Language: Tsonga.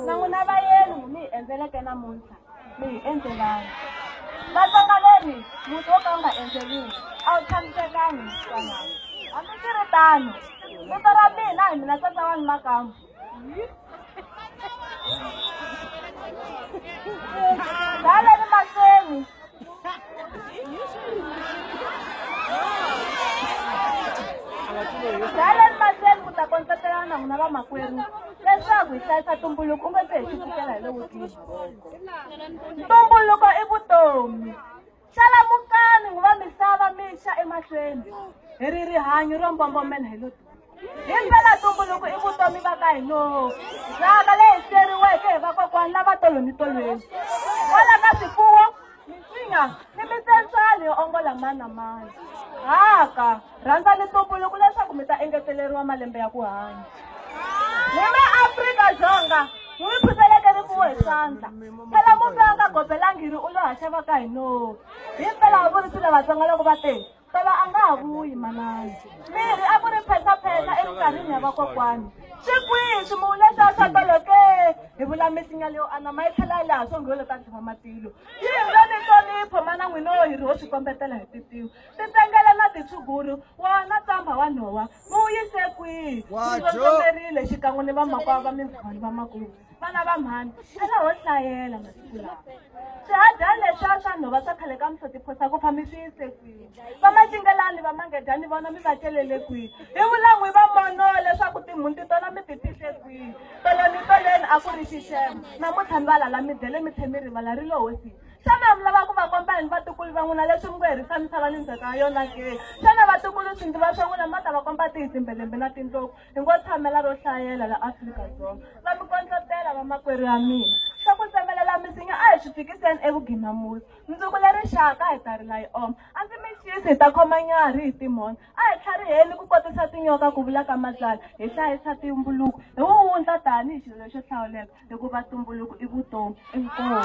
na n'wina vayeni mi hi endzeleke namuntlha mi hi endzelani vatsonga leri muti wo ka wu nga endzeliwi a wu tshamisekangi msana hambi swi ri tano vito ra mina hi mina tata wani makamu dale ni mahlweni Silent Marcel ku ta kondletelana na n'wina vamakwerhu leswaku hi hlayisa tumbuluko u nga se hi swi pfukela hi le wutini ntumbuluko i vutomi xalamukani nguva misava mixa emahlweni hi ri rihanyo ro mbombomela hi lo himpela ntumbuluko i vutomi va ka hino ndzhaka leyi siyeriweke hi vakokwani lava tolonitolweni kwala ka swifuwo minsinya ni mitsensani yo ongola mani na mani haka rhandzani ntumbuluko leswaku mi ta engeteleriwa malembe ya ku hanya hi maafrika-dzonga hi mi phuzeleke rifuwo hi swandla phela mufi a nga gobelangi ri u lo haxa va ka hino himpela va vurisi lavatsonga loko va te tolo a nga ha vuyi manana mirhi a ku ri phetapheta eminkarhini ya vakokwani swi kwihi swimuwu leswiya swa tolo ke hi vula misinya leyo anama yi tlhela yi laha swongholo ka ntlhima matilo yi hi nga ni hlonipho mana n'wina wo hi ri ho swi kombetela hi titiwa titengele na titshuguru wona tsamba wa nhowa muwu yise kwihi wu ndlondlomerile xikan'we ni vamakwavo va mindzhwani va makumu vana va mhani a va ho hlayela masiku lawa swihadyani leswiya swa nhova swa khale ka muhloti phosa ku fami swi yise kwihi va macingelani va mangedyani vona mi va celele kwihi hi vulan'wi va mono leswaku timhunti tona mi ti fihle kwihi toloni toleni a ku ri xixema namuntlha mi va lala mi dyele mi tlhe mi rivala ri lo hosini xana mi lava ku va komba yini vatukulu va n'wina leswi mi ku herisa misava ni ndzhaka ya yona ke xana vatukulu swi ndzi va swa n'wina mi va ta va komba tihi timbelembe na tindlopfu Hi ngo tshamela ro hlayela la Afrika-Dzonga. Va mi kondlotela vamakwerhu ya mina. Swa ku tsemelela misinya a hi swi fikiseni evugina musi. Mundzuku le rixaka hi ta rila yi oma. A ndzi mi xisi hi ta khoma nyarhi hi timhondzo. A hi tlhariheni ku kotisa tinyoka ku vula ka Matswala. Hi hlayisa tumbuluko hi wuwundla tani hi xilo lexo hlawuleka hikuva tumbuluko i vutomi. Inkomu.